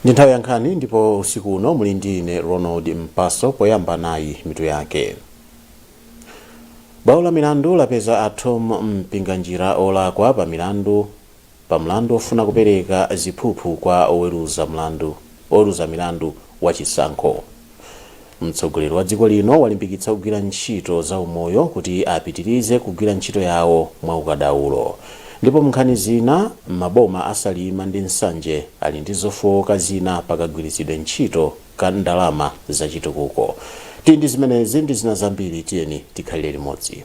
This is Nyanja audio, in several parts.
ndi nthawi ya nkhani ndipo usiku uno muli ndi ine ronald mpaso poyamba nayi mitu yake bwalo la milandu lapeza a Thom Mpinganjira olakwa pa milandu pa mlandu ofuna kupereka ziphuphu kwa oweruza mlandu wa chisankho. Mtsogoleri wa dziko lino walimbikitsa ogwira ntchito za umoyo kuti apitirize kugwira ntchito yawo mwa ukadaulo. Ndipo m'nkhani zina, maboma a Salima ndi Nsanje ali ndi zofooka zina pa kagwiritsidwe ntchito ka ndalama za chitukuko. Tili ndi zimenezi ndi zina zambiri tiyeni tikhalire limodzi.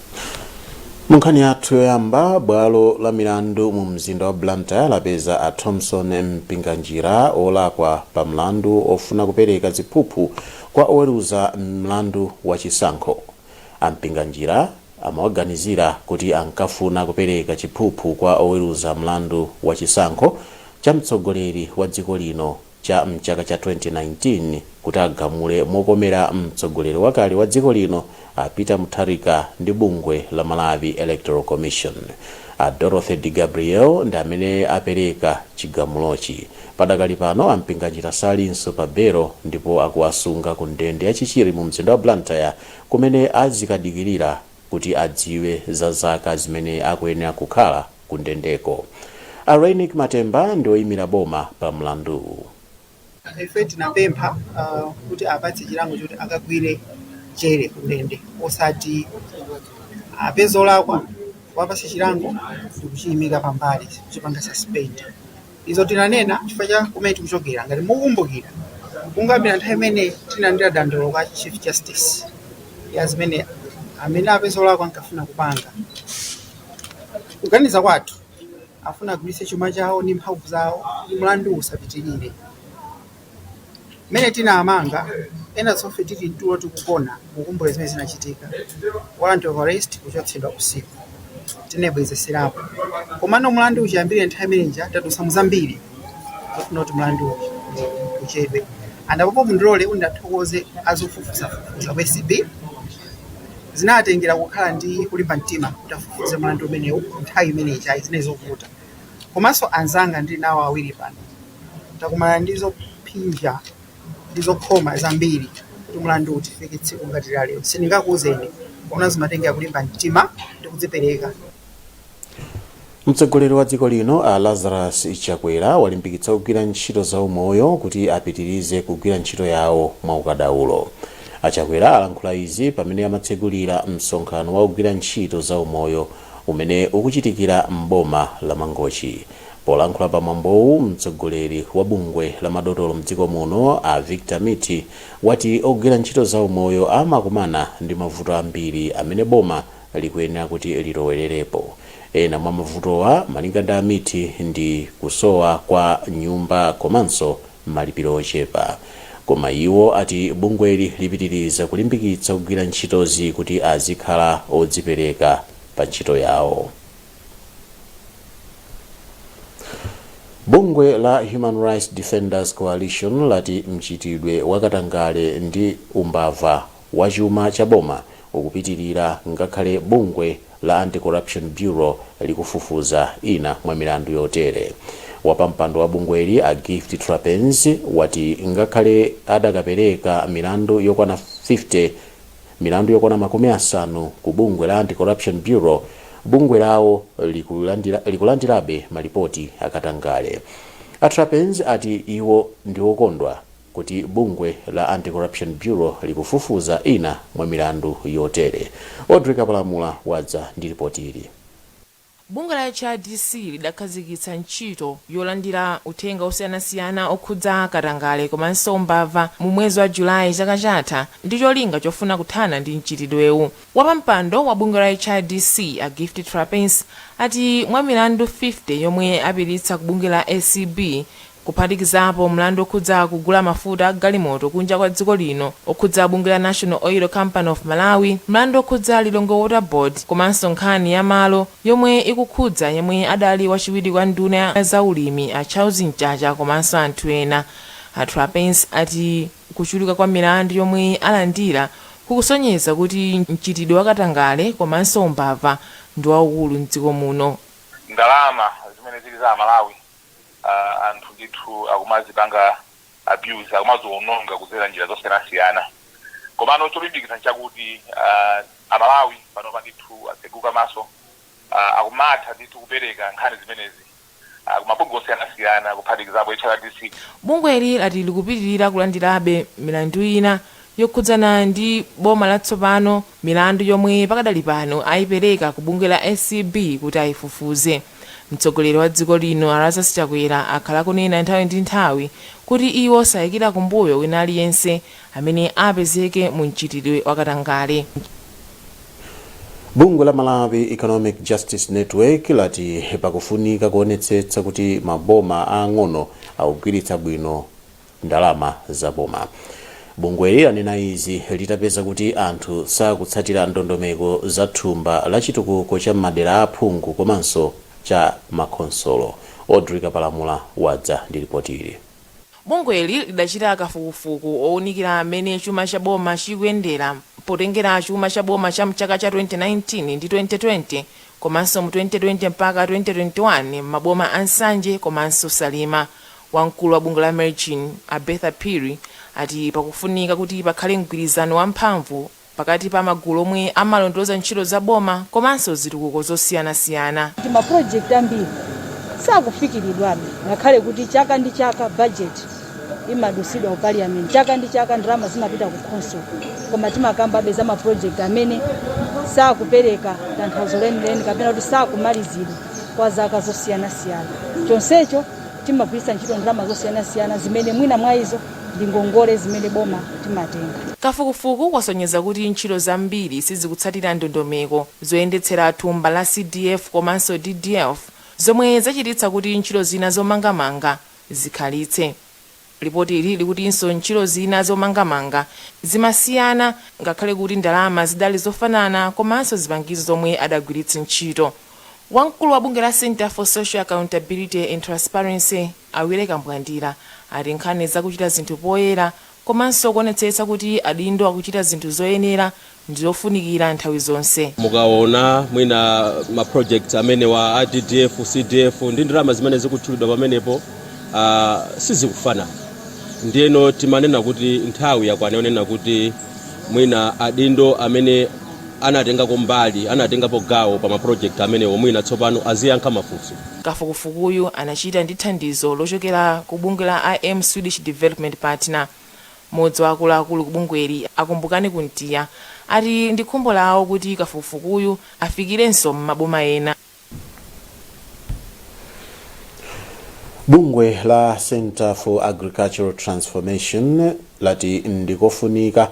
Munkhani yathu yoyamba, bwalo la milandu mu mzinda wa Blantyre lapeza a Thomson Mpinganjira olakwa pa mlandu ofuna kupereka ziphuphu kwa oweruza mlandu wa chisankho. A Mpinganjira amawaganizira kuti ankafuna kupereka chiphuphu kwa oweruza mlandu wa chisankho cha mtsogoleri wa dziko lino cha mchaka cha 2019 kuti agamule mokomera mtsogoleri wakale wa dziko lino a Peter Mutharika ndi bungwe la Malawi Electoral Commission. A Dorothy DeGabriele ndi amene apereka chigamulochi. Padakali pano a Mpinganjira salinso pa belo ndipo akuwasunga ku ndende ya Chichiri mu mzinda wa Blantyre kumene azikadikirira kuti adziwe za zaka zimene akuyenera kukhala ku ndendeko. A Reyneck Matemba ndi oyimira boma pa mlanduwu. Ife tinapempha kuti awapatse chilango choti akagwire jere ku ndende osati apezeka olakwa kuwapatsa chilango ndikuchiyimika pambali kuchipanga suspend. Izo tinanena chifukwa cha kumene tikuchokera. Ngati mukukumbukira kungoyambira nthawi imene tinalandira dandaulo kwa Chief Justice ya zimene amene apezeka olakwa ankafuna kupanga, Kuganiza kwathu, ankafuna agwiritse chuma chawo ndi mphamvu zawo kuti mlanduwu usapitirire. Mmene tinawamanga, enafe tonsefe tili mtulo tikugona mukukumbukira zimene zinachitika. Warrant of arrest kuchotsedwa usiku. Tinabwezeserapo. Komano mlanduwu chiyambire nthawi imene ija tadutsa mu zambiri. zofuna kuti mlanduwu uchedwe and apopo mundilole kuti ndiwathokoze azofufuzafufuza ku acb zinatengera kukhala ndi kulimba mtima kuti afufuze mlandu umenewu nthawi imene ijayi zinali zovuta komanso anzanga ndili nawo awiri pano takumana ndi zophinja ndi zokhoma zambiri kuti mlanduwu tifike tsiku ngati la lero sindingakuuzeni koma zimatengera kulimba mtima ndi kudzipereka Mtsogoleri wa dziko lino a Lazarus Chakwera walimbikitsa ogwira ntchito za umoyo kuti apitirize kugwira ntchito yawo mwa ukadaulo. A Chakwera alankhula izi pamene amatsegulira msonkhano wa ogwira ntchito za umoyo umene ukuchitikira m'boma la Mangochi. Polankhula pa mwambowu, mtsogoleri wa bungwe la madotolo mdziko muno a Victor Mithi wati ogwira ntchito za umoyo amakumana ndi mavuto ambiri amene boma likuyenera kuti lilowelerepo. Ena mwa mavutowa malinga ndi a Mithi ndi kusowa kwa nyumba komanso malipiro ochepa. Koma iwo ati bungweli lipitiriza kulimbikitsa ogwira ntchitozi kuti azikhala odzipereka pa ntchito yawo. Bungwe la Human Rights Defenders Coalition lati mchitidwe wa katangale ndi umbava wachuma cha boma ukupitilira ngakhale bungwe la Anti-Corruption Bureau likufufuza ina mwa milandu yotere. Wapampando wa bungweli a Gift Trapence wati ngakhale adakapereka milandu yokwana 50, milandu yokwana makumi asanu ku bungwe la Anti-Corruption Bureau, bungwe lawo likulandirabe malipoti akatangale. A Trapence ati iwo ndiwokondwa kuti bungwe la Anti-Corruption Bureau likufufuza ina mwa milandu yotere. Audrey Kapalamula wadza ndi ripoti ili. Bungwe la HRDC lidakhazikitsa ntchito yolandira uthenga osiyanasiyana okhudza katangale komanso umbava mu mwezi wa July chaka chatha ndi cholinga chofuna kuthana ndi mchitidwewu. Wapampando wa bungwe la HRDC a Gift Trapence ati mwa milandu 50 yomwe apititsa ku bungwe la acb, kuphatikizapo mlandu okhudza kugula mafuta a galimoto kunja kwa dziko lino, okhudza bungwe la National Oil Company of Malawi, mlandu okhudza Lilongwe Water Board komanso nkhani ya malo yomwe ikukhudza yemwe adali wachiwiri kwa nduna ya za ulimi a Charles Mchacha komanso anthu ena. A Trapence ati kuchuluka kwa milandu yomwe alandira kukusonyeza kuti mchitidwe wa katangale komanso umbava ndi waukulu m'dziko muno. Ndalama zimene zili za Amalawi aah anthu ndithu akumazipanga abuse akumaziononga kudzera njira zosiyanasiyana komano cholimbikitsa nchakuti aah amalawi panopa ndithu atseguka maso aah akumatha ndithu kupereka nkhani zimenezi aah kumabungwe osiyanasiyana kuphatikizapo HRDC. Bungweli lati likupitilira kulandirabe milandu ina yokhudzana ndi boma latsopano, milandu yomwe pakadali pano ayipereka ku bungwe la acb kuti ayifufuze. Mtsogoleri wa dziko lino a Lazarus Chakwera akhala akunena nthawi ndi nthawi kuti iwo sayikira kumbuyo wina aliyense amene apezeke mu mchitidwe wa katangale. Bungwe la Malawi Economic Justice Network lati pakufunika kuonetsetsa kuti maboma aang'ono akugwiritsa bwino. ndalama za boma. Bungweli lanena izi litapeza kuti anthu sakutsatira ndondomeko za thumba la chitukuko cha m'madera a aphungu komanso cha makhonsolo. Audrey Kapalamula wadza ndi lipoti ili. Bungweli lidachita kafukufuku owunikira m'mene chuma cha boma chikuyendera potengera chuma cha boma cha m'chaka cha 2019 ndi 2020 komanso mu 2020 mpaka 2021 m'maboma a Nsanje komanso Salima. Wamkulu wa bungwe la MEJN, a Bertha Phiri, ati pakufunika kuti pakhale mgwirizano wa mphamvu pakati pa magulu omwe amalondoloza ntchito za boma komanso zitukuko zosiyanasiyana. Ma project ambiri sakufikiridwabe ngakhale kuti chaka ndi chaka budget imadusidwa ku parliament, chaka ndi chaka ndalama zimapita ku khonsolo, koma timakambabe za ma project amene sakupereka tanthauzo lenileni kapena kuti sakumalizidwa kwa zaka zosiyanasiyana chonsecho. Timagwiritsa ntchito ndalama zosiyanasiyana zimene mwina mwa izo ndi ngongole zimene boma timatenga. Kafukufuku wasonyeza kuti ntchito zambiri sizikutsatira ndondomeko zoyendetsera thumba la CDF komanso DDF, zomwe zachititsa kuti ntchito zina zomangamanga zikhalitse. Lipotili likutinso ntchito zina zomangamanga zimasiyana ngakhale kuti ndalama zidali zofanana komanso zipangizo zomwe adagwiritsa ntchito. Wamkulu wa bungwe la Centre for Social Accountability and Transparency, a Willy Kambwandira, ati nkhani za kuchita zinthu poyera komanso kuonetsetsa kuti adindo akuchita zinthu zoyenera ndi zofunikira nthawi zonse. Mukaona mwina ma projects amenewa a DDF, CDF ndi ndalama zimene zikutchulidwa pamenepo ah, sizikufanana ndiyeno timanena kuti nthawi yakwana yonena kuti mwina adindo amene anatengako mbali anatengapo gawo pa ma project amenewo mwina tsopano aziyankha mafunso. Kafukufukuyu anachita ndi thandizo lochokera ku bungwe la IM Swedish Development Partner. Mmodzi wa akuluakulu ku bungweli, a Kumbukani Kuntiya, ati ndi khumbo lawo kuti kafukufukuyu afikirenso m'maboma ena. Bungwe la Centre for Agricultural Transformation lati ndikofunika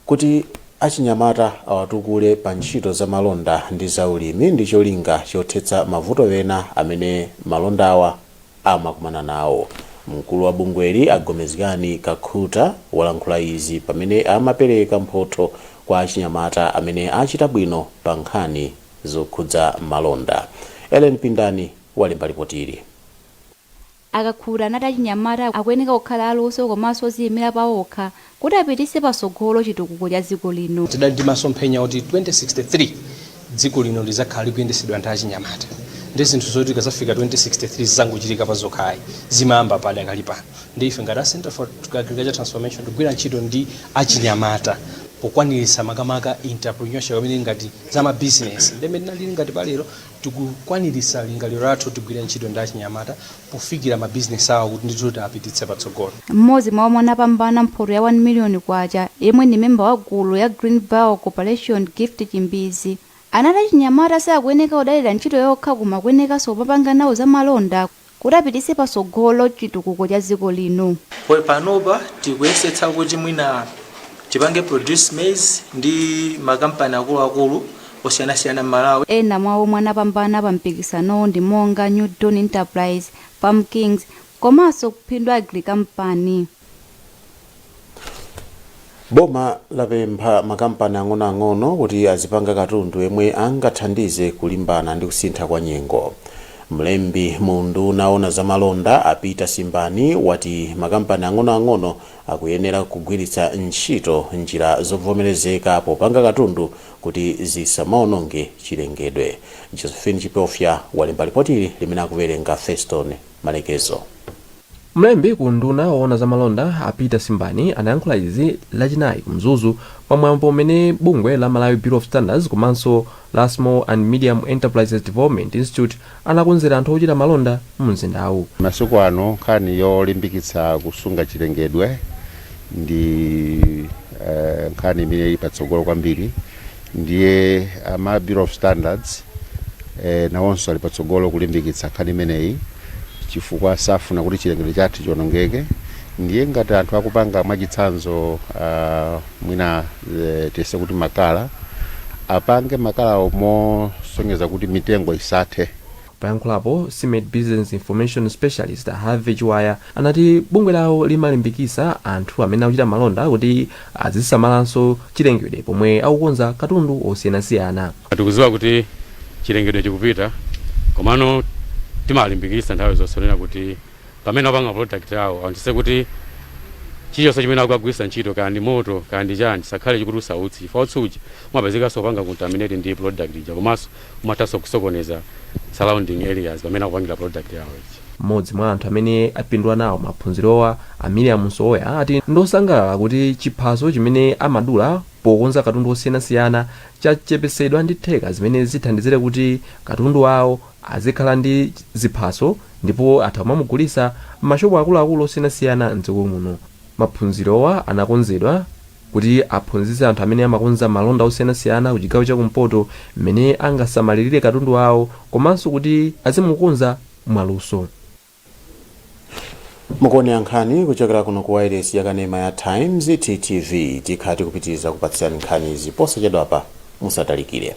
Kuti achinyamata awatukule pa ntchito za malonda ndi za ulimi ndi cholinga chothetsa mavuto ena amene malondawa amakumana nawo. Mkulu wa bungweli a Gomezgani Kakhuta walankhula izi pamene amapereka mphotho kwa achinyamata amene achita bwino pa nkhani zokhudza malonda. Ellen Pindani walemba lipoti ili. A Kakhuta anati achinyamata akuyeneka kukhala aluso komaso oziyimila pawokha kuti apitise pasogolo chitukuko cha dziko lino. Tidali ndi masomphenya kuti 2063 dziko lino lizakhala likuyendesedwa ndi achinyamata nde zinthu zoti tikazafika 2063 zizangochitika pa zokha ayi zimayamba padakali pano nde ife ngati a Centre for Agricultural Transformation tikugwira ntchito ndi achinyamata pokwanilitsa makamaka entrepreneurship imene ili ngati za ma business nde mmene tinalili ngati palero Tikukwanilitsa lingaliro lathu kuti tigwire ntchito ndi achinyamata pofikira ma business awo kuti ndithu tiapititse patsogolo. M'modzi mwa omwe anapambana mphoto ya K1 million yemwe ndi member wa gulu la Green Vow Corporation Gift Chimbizi anati achinyamata sakuyeneka kudalira ntchito yokha koma akuyenekaso kumapanga nawo zamalonda kuti apitise patsogolo chitukuko cha dziko lino. Poi panopa tikuyesetsa kuti mwina tipange produce maize ndi makampani akuluakulu osiyanasiyana m'Malawi. Ena mwa omwe anapambana pa mpikisanowu ndi monga New Dawn Enterprise, Farm Kings komanso Phindu Agri Company. boma lapempha makampani ang'onoang'ono kuti azipanga katundu yemwe angathandize kulimbana ndi kusintha kwa nyengo mlembi mu unduna wa owona za malonda a peter simbani wati makampani ang'onoang'ono akuyenera kugwiritsa ntchito njira zovomerezeka popanga katundu kuti zisamaononge chilengedwe josephine chipofya walemba lipotili limene akuwerenga feston Malekezo. Mlembi ku unduna owona za malonda a Peter Simbani anayankhula izi lachinayi ku Mzuzu pa mwambo umene bungwe la Malawi Bureau of Standards komanso la Small and Medium Enterprises Development Institute anakonzera anthu ochita malonda mu mzindawu. Masiku ano nkhani yolimbikitsa kusunga chilengedwe ndi nkhani imene ili patsogolo kwambiri. ndiye ama Bureau of Standards eh, nawonso ali patsogolo kulimbikitsa nkhani imeneyi chifukwa safuna kuti chilengedwe chathu chionongeke ndiye ngati anthu akupanga mwachitsanzo uh, mwina eh, tiyese kuti makala apange makalawo mosonyeza kuti mitengo isathe Poyankhulapo, SMEDI Business Information Specialist a Harvey Chiwaya anati bungwe lawo limalimbikitsa anthu amene akuchita malonda kuti azisamalanso chilengedwe pomwe akukonza katundu osiyanasiyana. Tikudziwa kuti chilengedwe chikupita komano timalimbikitsa nthawi zonse kunena kuti pamene akupanga product yawo aonetsetse kuti chilichonse chimene akugwiritsa ntchito kaya ndi moto kaya ndi chani chisakhale chikutulutsa utsi chifukwa utsi uja umapezekanso kupanga contaminate ndi product ija komanso umathanso kusokoneza surrounding areas pamene akupangira product yawo ija. M'modzi mwa anthu amene apindula nawo maphunzirowa, a Miriam Msowoya, ati ndosangalala kuti chiphaso chimene amadula pokonza katundu osiyanasiyana chachepetsedwa ndi theka zimene zithandizire kuti katundu wawo azikhala ndi ziphaso ndipo atha kumamugulitsa m'mashopu akuluakulu osiyanasiyana m'dziko muno. Maphunzirowa anakonzedwa. kuti aphunzitse anthu amene amakonza malonda osiyanasiyana kuchigawo chakumpoto mmene angasamalirire katundu wawo komanso kuti azimukonza mwaluso. Mukuonera nkhani kuchokera kuno ku wailesi yakanema ya Times, TTV. Tikhala tikupitiriza kukupatsirani nkhanizi posachedwapa, musatalikire.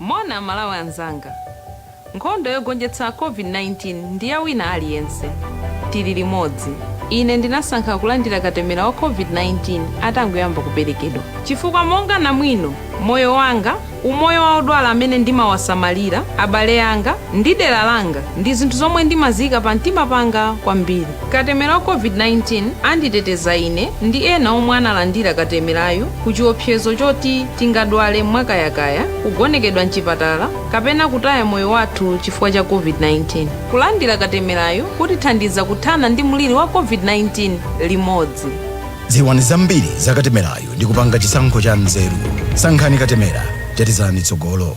Moni amalawi anzanga nkhondo yogonjetsa covid 19 ndi ya wina aliyense tili limodzi ine ndinasankha kulandira katemera wa covid 19 atangoyamba kuperekedwa chifukwa monga namwino moyo wanga umoyo wa odwala amene ndimawasamalira abale anga ndi dera langa ndi zinthu zomwe ndimaziyika pamtima panga kwambiri. Katemera wa COVID-19 anditeteza ine ndi ena omwe analandira katemerayu ku chiopsezo choti tingadwale mwakayakaya, kugonekedwa m'chipatala, kapena kutaya moyo wathu chifukwa cha COVID-19. Kulandira katemerayu kutithandiza kuthana ndi mliri wa COVID-19 limodzi. Dziwani zambiri za katemerayu ndi kupanga chisankho cha nzeru. Sankhani katemera, tetezani tsogolo.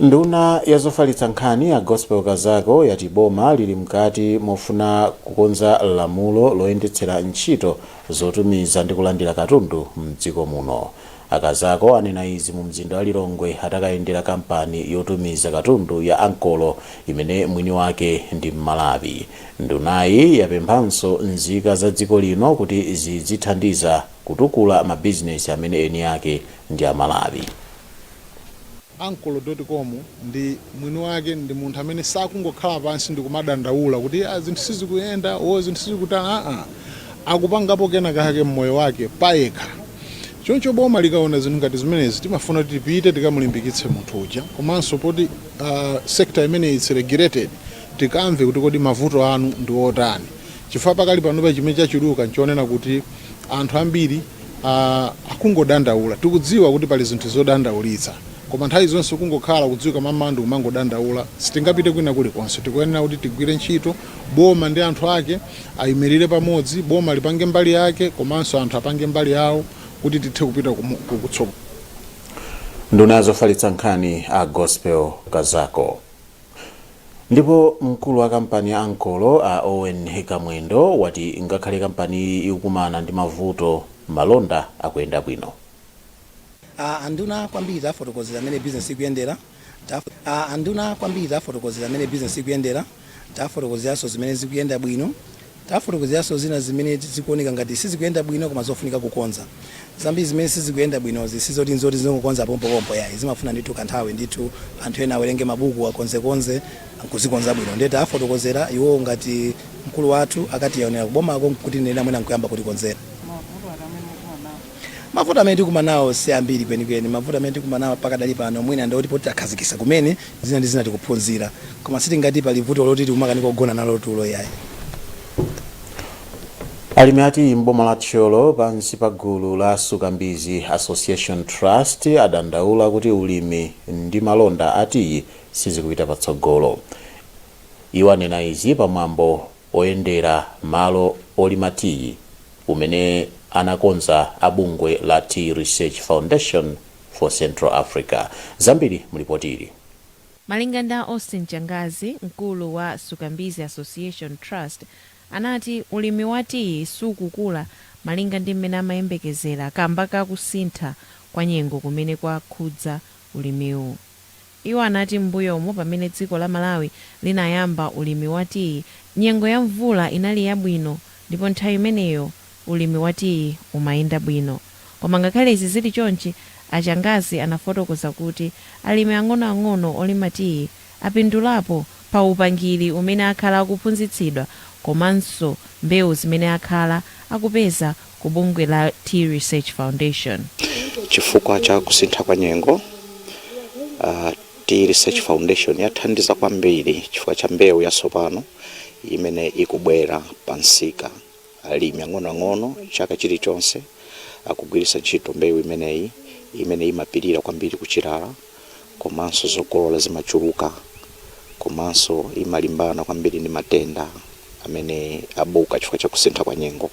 Nduna ya zofalitsa nkhani a Gospel Kazako yati boma lili mkati mofuna kukonza lamulo loyendetsera ntchito zotumiza ndi kulandira katundu mdziko muno. A Kazako anena izi mu mzinda wa Lilongwe atakayendera kampani yotumiza katundu ya Ankolo imene mwini wake ndi Mmalawi. Ndunayi yapemphanso nzika za dziko lino kuti zidzithandiza Kutukula ma bizinesi amene eni ake ndi a Malawi. Ankolo.com ndi mwini wake ndi munthu amene sakungokhala pansi ndikumadandaula kuti iya zinthu sizikuyenda or zinthu sizikuta aa akupangapo kena kake mmoyo wake payekha choncho boma likaona zinthu ngati zimenezi timafuna kuti tipite tikamulimbikitse munthu uja komanso poti sector imeneyi is regulated tikamve kuti kodi mavuto anu ndi otani Chifukwa pakali panopa chimene chachuluka n'chonena kuti anthu ambiri akungodandaula. Tikudziwa kuti pali zinthu zodandaulitsa, koma nthawi zonse kungokhala kudzuka mammawa ndi kumangodandaula sitingapite kwina kulikonse. Tikuyenera kuti tigwire ntchito, boma ndi anthu ake ayimirire pamodzi, boma lipange mbali yake komanso anthu apange mbali yawo kuti tithe kupita kutsogolo. Nduna ya zofalitsa nkhani a Gospel Kazako. Ndipo mkulu wa kampani ya Ankolo a Owen Nkamwendo wati ngakhale kampaniyi ikukumana ndi mavuto, malonda akuyenda bwino. A nduna kwambiri tafotokozera mmene bizinesi ikuyendera, A nduna kwambiri tafotokozera mmene bizinesi ikuyendera, tafotokozeranso zimene zikuyenda bwino Tafotokozeranso zina zimene zikuoneka ngati sizikuyenda bwino koma zofunika kukonza. Zambiri zimene sizikuyenda bwinozi si zoti n'zoti zingokonza pompopompo iyayi, zimafuna ndithu kanthawi ndithu, anthu ena awerenge mabuku, akonzekonze n'kuzikonza bwino. Ndiye tawafotokozera iwowo ngati mkulu wathu akationera kubomako kutinenera mwina n'kuyamba kutikonzera. Mavuto amene tikumana nawo si ambiri kwenikweni. Mavuto amene tikumana nawo pakadali pano mwina ndi oti poti takhazikisa kumene zina ndi zina tikuphunzira. Koma sitingati pali vuto loti tikumakanika kugona nalo tulo iyayi. Alimi a tiyi m'boma la Thyolo pansi pa gulu la Sukambizi Association Trust adandaula kuti ulimi ndi malonda a tiyi sizikupita patsogolo. Iwo anena izi pa mwambo oyendera malo olima tiyi umene anakonza a bungwe la Tea Research Foundation for Central Africa. Zambiri mulipotili. Malinga ndi a Austin Changazi, mkulu wa Sukambizi Association Trust, anati ulimi wa tiyi sukukula malinga ndi mmene amayembekezera kamba ka kusintha kwa nyengo kumene kwakhudza ulimiwu. Iwo anati m'mbuyomu pamene dziko la Malawi linayamba ulimi wa tiyi, nyengo ya mvula inali yabwino ndipo nthawi imeneyo ulimi wa tiyi umayenda bwino. Koma ngakhale izi zili chonchi, a Changazi anafotokoza kuti alimi ang'onoang'ono olima tiyi apindulapo pa upangiri umene akhala akuphunzitsidwa komanso mbewu zimene akhala akupeza ku bungwe la Tea Research Foundation. Chifukwa cha kusintha kwa nyengo, uh, Tea Research Foundation yathandiza kwambiri chifukwa cha mbewu yatsopano imene ikubwera pa msika. Alimi ang'onoang'ono chaka chilichonse akugwiritsa ntchito mbewu imeneyi imene imapirira kwambiri kuchilala komanso zokolola zimachuluka komanso imalimbana kwambiri ndi matenda amene abuka chifukwa cha kusintha kwa nyengo.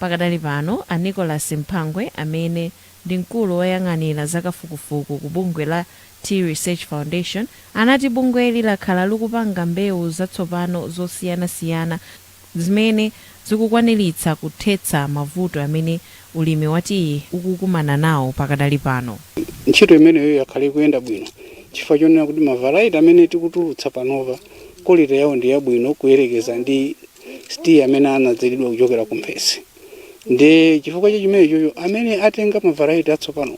Pakadali pano, a Nicholas Mphangwe amene ndi mkulu woyang'anira za kafukufuku ku bungwe la Tea Research Foundation anati bungweli lakhala likupanga mbewu zatsopano zosiyana siyana zimene zikukwaniritsa kuthetsa mavuto amene ulimi wa tiyi ukukumana nawo pakadali pano. Ntchito imeneyo yakhala ikuyenda bwino chifukwa chonena kuti ma variety amene tikutulutsa panopa quality yawo ndi yabwino kuyerekeza ndi tiyi amene anadzalidwa kuchokera ku mphesi ndiye chifukwa cha chimenechocho amene atenga mavaraiti atsopano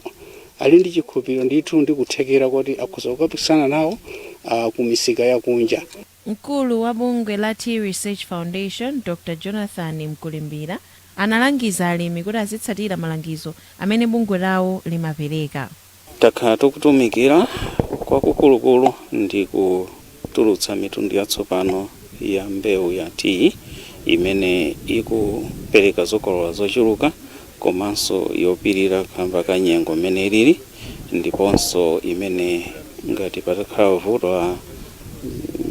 ali ndi chikhulupiriro ndithu ndi kuthekera koti akhoza kukapikisana nawo uh, ku misika yakunja Mkulu wa bungwe la Tea Research Foundation, Dr Jonathan Mkulimbira, analangiza alimi kuti azitsatira malangizo amene bungwe lawo limapereka. Takhala tikutumikira kwakukulukulu ndi kutulutsa mitundu yatsopano ya mbewu ya tiyi imene ikupereka zokolola zochuluka komanso yopirira kaamba ka nyengo mmene ilili ndiponso imene ngati patakhala vuto la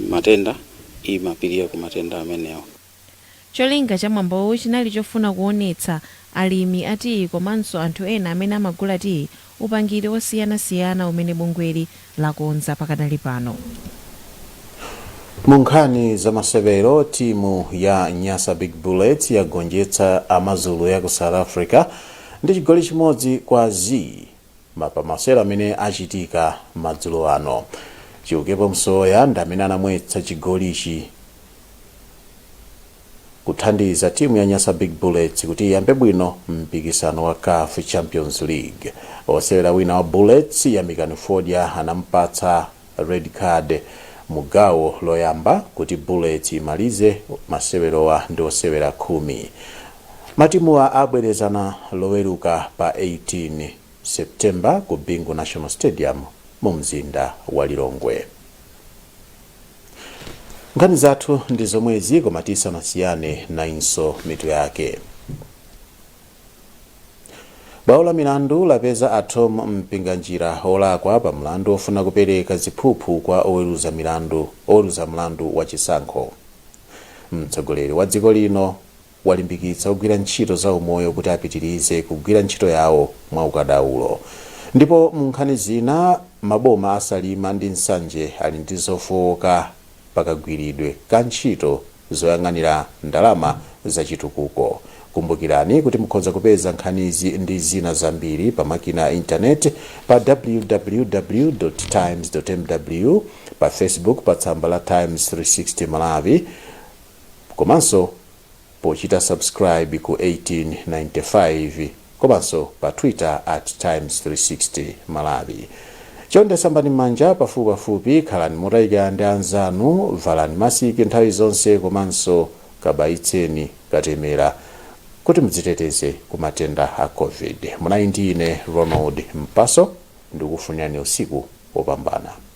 matenda imapirira ku matenda amenewo. Cholinga cha mwambowu chinali chofuna kuonetsa alimi a tiyi komanso anthu ena amene amagula tiyi upangiri wosiyana siyana umene bungweli lakonza pakadali pano. Mu nkhani za masewero, timu ya Nyasa Big Bullets yagonjetsa Amazulu ya ku South Africa ndi chigoli chimodzi kwa zii ma pa masewero amene achitika madzulo ano. Chiukepo Msowoya ndi amene anamwetsa chigolichi. kuthandiza timu ya Nyasa Big Bullets kuti iyambe bwino mpikisano wa CAF Champions League. Osewera wina wa Bullets Yamikani Fodya anamupatsa red card mu gawo loyamba kuti Bullets imalize masewerowa ndi osewera khumi. Matimuwa abwerezana loweruka pa 18 September ku Bingu National Stadium mu mzinda wa Lilongwe. Nkhani zathu ndi zomwezi koma tisanasiyane nayinso mitu yake. Bwalo la milandu lapeza a Thom Mpinganjira olakwa pa mlandu ofuna kupereka ziphuphu kwa oweruza mlandu wa chisankho. Mtsogoleri wa dziko lino walimbikitsa ogwira ntchito za umoyo kuti apitirize kugwira ntchito yawo mwa ukadaulo. Ndipo mu nkhani zina, maboma a Salima ndi Nsanje ali ndi zofooka pa kagwiridwe ka ntchito zoyang'anira ndalama za chitukuko. Kumbukirani kuti mukhoza kupeza nkhanizi ndi zina zambiri pa makina a intaneti pa www.times.mw, pa Facebook pa tsamba la Times 360 Malawi, komanso pochita subscribe ku 1895 komanso pa Twitter at Times 360 Malawi. Chonde sambani m'manja pafupipafupi, khalani motayikana ndi anzanu, valani masiki nthawi zonse komanso kabayitseni katemera kuti mudziteteze ku matenda a COVID. Munali ndi ine Ronald Mpaso ndikufunirani usiku wopambana.